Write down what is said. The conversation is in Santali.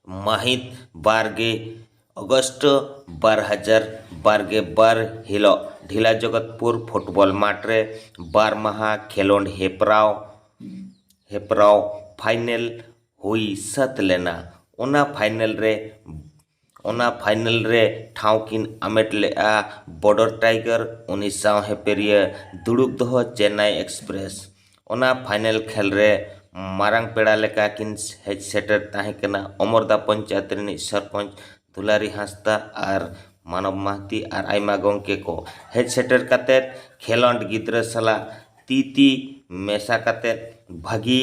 ᱢᱟᱹᱦᱤᱛ ᱵᱟᱨᱜᱮ ᱚᱜᱚᱥᱴ ᱵᱟᱨ ᱦᱟᱡᱟᱨ ᱵᱟᱨᱜᱮ ᱵᱟᱨ ᱦᱤᱞᱳᱜ ᱰᱷᱤᱞᱟ ᱡᱚᱜᱚᱛᱯᱩᱨ ᱯᱷᱩᱴᱵᱚᱞ ᱢᱟᱴᱷ ᱨᱮ ᱵᱟᱨ ᱢᱟᱦᱟ ᱠᱷᱮᱞᱳᱰ ᱦᱮᱯᱨᱟᱣ ᱦᱮᱯᱨᱟᱣ ᱯᱷᱟᱭᱱᱮᱞ ᱦᱩᱭ ᱥᱟᱹᱛ ᱞᱮᱱᱟ ᱚᱱᱟ ᱯᱷᱟᱭᱱᱮᱞ ᱨᱮ ᱚᱱᱟ ᱯᱷᱟᱭᱱᱮᱞ ᱨᱮ ᱴᱷᱟᱶ ᱠᱤᱱ ᱟᱢᱮᱴ ᱞᱮᱫᱼᱟ ᱵᱚᱰᱚᱨ ᱴᱟᱭᱜᱟᱨ ᱩᱱᱤ ᱥᱟᱶ ᱦᱮᱯᱮᱨᱤᱭᱟᱹ ᱫᱩᱲᱩᱵ ᱫᱚᱦᱚ ᱪᱮᱱᱱᱟᱭ ᱮᱠᱥᱯᱨᱮᱥ ᱚᱱᱟ ᱯᱷᱟᱭᱱᱮᱞ ᱠᱷᱮᱞ ᱨᱮ ᱢᱟᱨᱟᱝ ᱯᱮᱲᱟ ᱞᱮᱠᱟ ᱠᱤᱱ ᱦᱮᱡ ᱥᱮᱴᱮᱨ ᱛᱟᱦᱮᱸ ᱠᱟᱱᱟ ᱚᱢᱚᱨᱫᱟ ᱯᱚᱧᱪᱟᱭᱮᱛ ᱨᱤᱱᱤᱡ ᱥᱚᱨᱯᱚᱧᱪ ᱫᱩᱞᱟᱨᱤ ᱦᱟᱸᱥᱫᱟ ᱟᱨ ᱢᱟᱱᱚᱵᱽ ᱢᱟᱦᱟᱛᱤ ᱟᱨ ᱟᱭᱢᱟ ᱜᱚᱢᱠᱮ ᱠᱚ ᱦᱮᱡ ᱥᱮᱴᱮᱨ ᱠᱟᱛᱮᱫ ᱠᱷᱮᱞᱳᱰ ᱜᱤᱫᱽᱨᱟᱹ ᱥᱟᱞᱟᱜ ᱛᱤ ᱛᱤ ᱢᱮᱥᱟ ᱠᱟᱛᱮᱫ ᱵᱷᱟᱹᱜᱤ